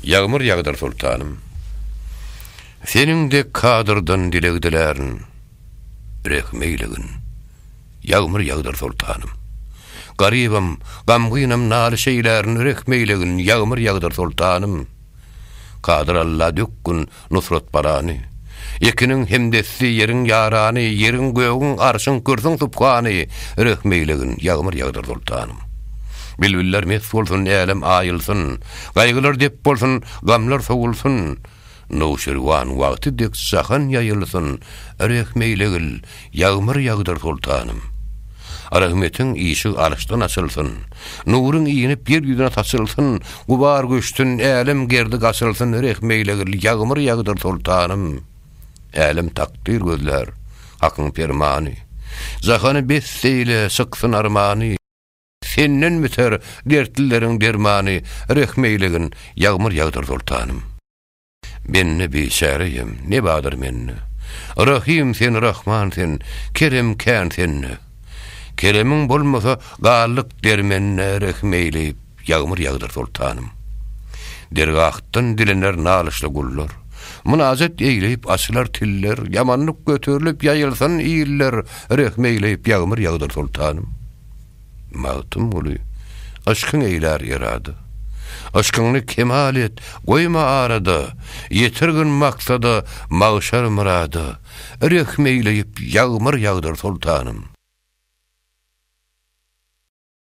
Ýagmyr ýagdyr soltanym. Seniň dek kadyrdan dileg dilärin. Rehim eýlegin. Ýagmyr ýagdyr soltanym. Garybam, gamgynam nalyş eýlärin rehim eýlegin ýagmyr ýagdyr soltanym. Kadyr Alla dökgün Nusrat barany, Ekiniň hemdesdi, ýeriň ýarany, Ýeriň, gögüň, arşyň, kürsüň subhany, Rehim eýlegin, ýagmyr ýagdyr sultanym. Bilbiller mes bolsun, älem aýylsyn, Gaýgylar dep bolsun, gamlar sowulsyn, Nowşirwan wagty dek jahan ýaýylsyn, Rehim eýlegil, Ýagmyr ýagdyr soltanym. Rahmetiň işigi arşdan açylsyn, Nuryň inip ýer ýüzüne saçylsyn, Gubar göçsün, älem gerdi gaçylsyn, Rehmeýlegil, ýagmyr ýagdyr soltanym. Älem takdyr gözlär, Hakyň permany, Jahany best eýle, çyksyn armany, Senden biter dertlileriň dermany, Rehmeýlegin, ýagmyr ýagdyr soltanym. Bende biçäre ýem, ne badyr mende? Rahym sen, Rahman sen, kerem kän sende. Keremiň bolmasa, galdyk dermende, Rehim eýleýip, ýagmyr ýagdyr, Soltanym. Dergahdan dilener nalyşly gullar, Mynajat eýleýip, açylar tiller, Ýamanlyk göterilip, ýaýylsyn iller, Rehim eýleýip, ýagmyr ýagdyr, Soltanym. Magtymguly, Yşkyň eýlär ýerada. Yşkyňny kemal et, goýma arada, Ýetirgin maksada, magşar myrada, Rehim eýleýip, ýagmyr ýagdyr soltanym.